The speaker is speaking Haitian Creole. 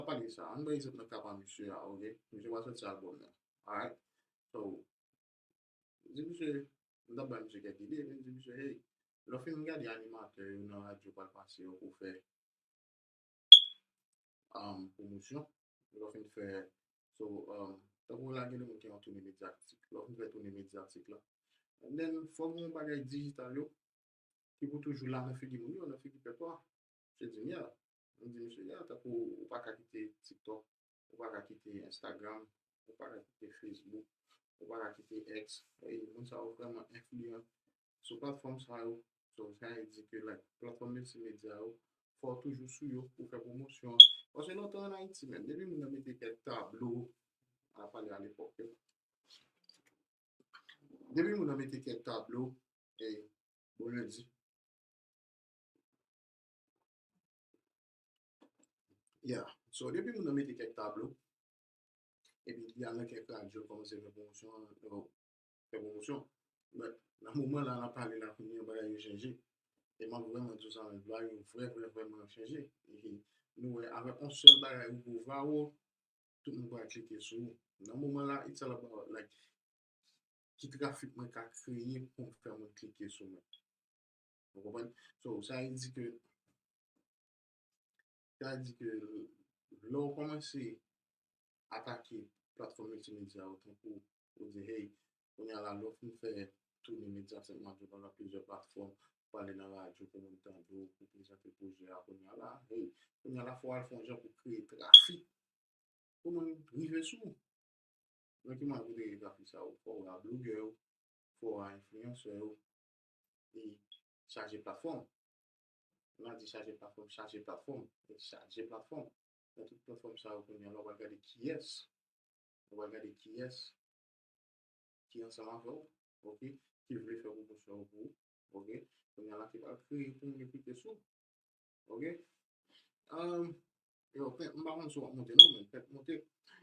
pa pale sa ann bay egzanp nan ka pa misye a ok misye pa sòti album nan alright so m di misye m tap bay misye kèk ide m di misye hey lè w fin gade animatè yo nan radyo pral pase yo pou fè pwomosyon lè w fin fè so tankou w lage yon toune medyatik lè w fin fè toune medyatik la and then fò w gen yon bagay dijital yo ki pou toujou la nan figi moun yo nan figi pèp la se di m ye la. Nou di misye ya tankou ou pa ka kite tiktok, ou pa ka kite instagram, ou pa ka kite facebook, ou pa ka kite ex, ey moun sa yo vrèman enfliyan sou platfòm sa yo, so sa e di ke like platfòm miltimedya yo fòw toujou sou yo pou fè pwomosyon an, paske lontan an ayiti menm depi moun nan mete kèk tablo, mwen ap pale alepòk yo, depi moun nan mete kèk tablo, ey bon lundi. Ya, so depi moun nan mete kèk tablo, epi li al nan kèk radyo kòmanse fè pwomosyon an, bon, fè pwomosyon, but nan moman la nap pale la kounye an bagay yo chanje, e map vrèman di w sa, vibe yo vrè vrè vrèman chanje, epi nou wè avè on sèl bagay ou gwo vwa ou, tout moun pral klike sou ou, nan moman la it's all about like ki trafik mwen ka kreye poum fè moun klike sou mwen. Ou konprann? So, sa vle di ke, sa vle di ke lè ou kòmanse atake platfòm miltimedya yo tankou ou di hey, kounye a la lè ou fin fè toune medya Sen Mak yo pandan plizyè platfòm, ou pale nan radyo pou moun tande w, pou prezante pwojè a, kounye a la hey, kounye a la fò w al fè yon jan pou kreye trafik pou moun rive sou ou. Nan ki mwa pou kreye trafik sa yo? Fò w a blougè yo, fò w a enfliyansè yo, li chaje plafon, lè a di chaje plafon, chaje plafon, li chaje plafon, nan tout plafon sa yo kounye a la wap gade kiyès, wap gade kiyès ki ansanm avè w ok, ki vle fè pwomosyon pou ou ok, kounye a la ki pral kreye pou moun yo klike sou ok, yo m pa konn si wap monte non men fèk monte.